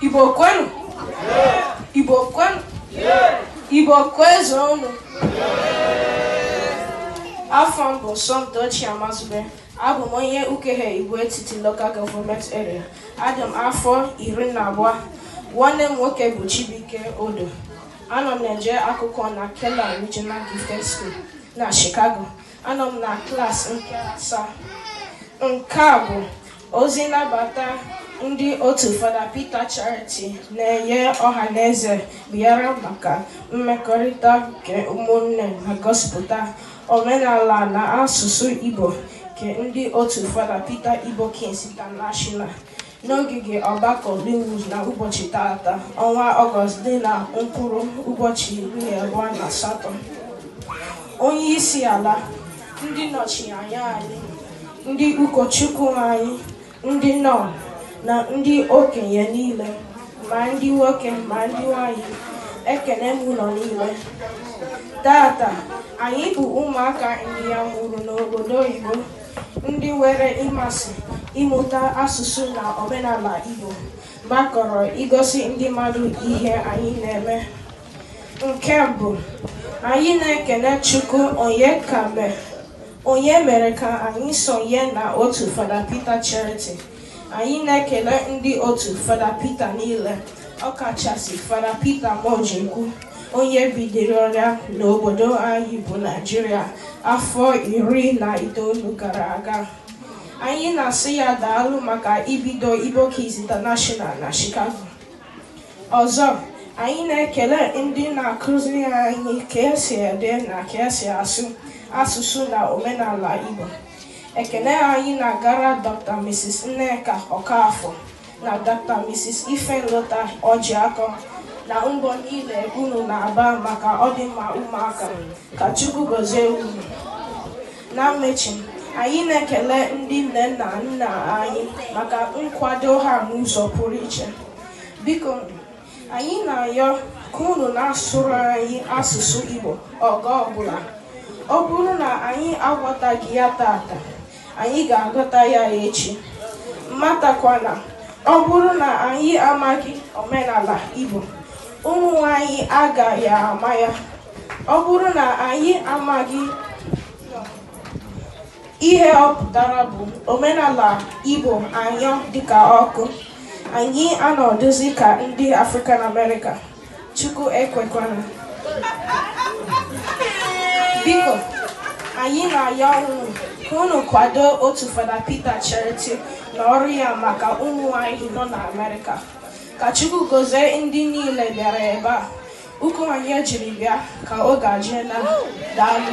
Igbo kwenu Igbo kwenu Igbo kwezuonụ afa m bụ Somtochi Amazube abụ m onye Ukehe Igbo Etiti Local Government Area adị m afọ iri na abụọ nwanne m nwoke bụ Chibuike Odo anọ m na-eje akwụkwọ na Keller Regional Gifted School na Chicago Anọ m na klas nke asaa. Nke a bụ ozi nnabata ndị otu Fada Peter Charity na-enye ọha na eze bịara maka mmekọrịta nke ụmụnne na ngosipụta omenala na asụsụ Igbo nke ndị otu Fada Peter Igbo Kids International n'ogige ọgbakọ Lynwood na ụbọchị taata ọnwa ọgọst dị na mkpụrụ ụbọchị iri abụọ na asatọ onye isi ala ndị nnọchianya anyị ndị ụkọchukwu anyị ndị nọn na ndị okenye niile ma ndị nwoke ma ndị nwanyị ekene m unu niile taata anyị bụ ụmụaka ndị a mụrụ n'obodo oyibo ndị nwere mmasị ịmụta asụsụ na omenala Igbo gbakọrọ igosi ndị mmadụ ihe anyị na-eme nke mbụ anyị na-ekene Chukwu onye ka mee onye mere ka anyị sonye na otu Fada Peter Charity Anyị na-ekele ndị otu Fada Peter niile ọkachasị Fada Peter Mojekwu onye bidoro ọrụ a n'obodo anyị bụ Naijiria afọ iri na itoolu gara aga anyị na-asị ya daalụ maka ibido Igbo Kids International na Chicago ọzọ anyị na-ekele ndị na-akụziri anyị ka esi ede na ka esi asụ asụsụ na omenala Igbo Ekele anyị na-agara Dr. Mrs. Nneka Okafor na Dr. Mrs. Ifenlota Ojiako na mbọ niile unu na-agba maka ọdịmma ụmụaka ka Chukwu gọzie unu. Na mmechi, anyị na-ekele ndị nne na nna anyị maka nkwado ha n'ụzọ pụrụ iche. Biko Anyị na-ayọ ka unu na-asụrụ anyị asụsụ Igbo oge ọbụla. Ọ bụrụ na anyị aghọtaghị ya taata, anyị ga-aghọta ya echi. Matakwa na ọ bụrụ na anyị amaghị omenala Igbo, ụmụ anyị agaghị ama ya. Ọ bụrụ na anyị amaghị Ihe ọ pụtara bụ omenala Igbo anyụọ dịka ọkụ, anyị anọdụzi ka ndị African America, Chukwu ekwekwana. Biko, anyị na-ayọ unu ka unu kwado otu Fada Peter Charity na ọrụ ya maka ụmụ anyị nọ na Amerịka. Ka Chukwu gozie ndị niile bịara ebe a. Ụkwụ onye jiri bịa ka ọ ga-eji ala. Daalụ.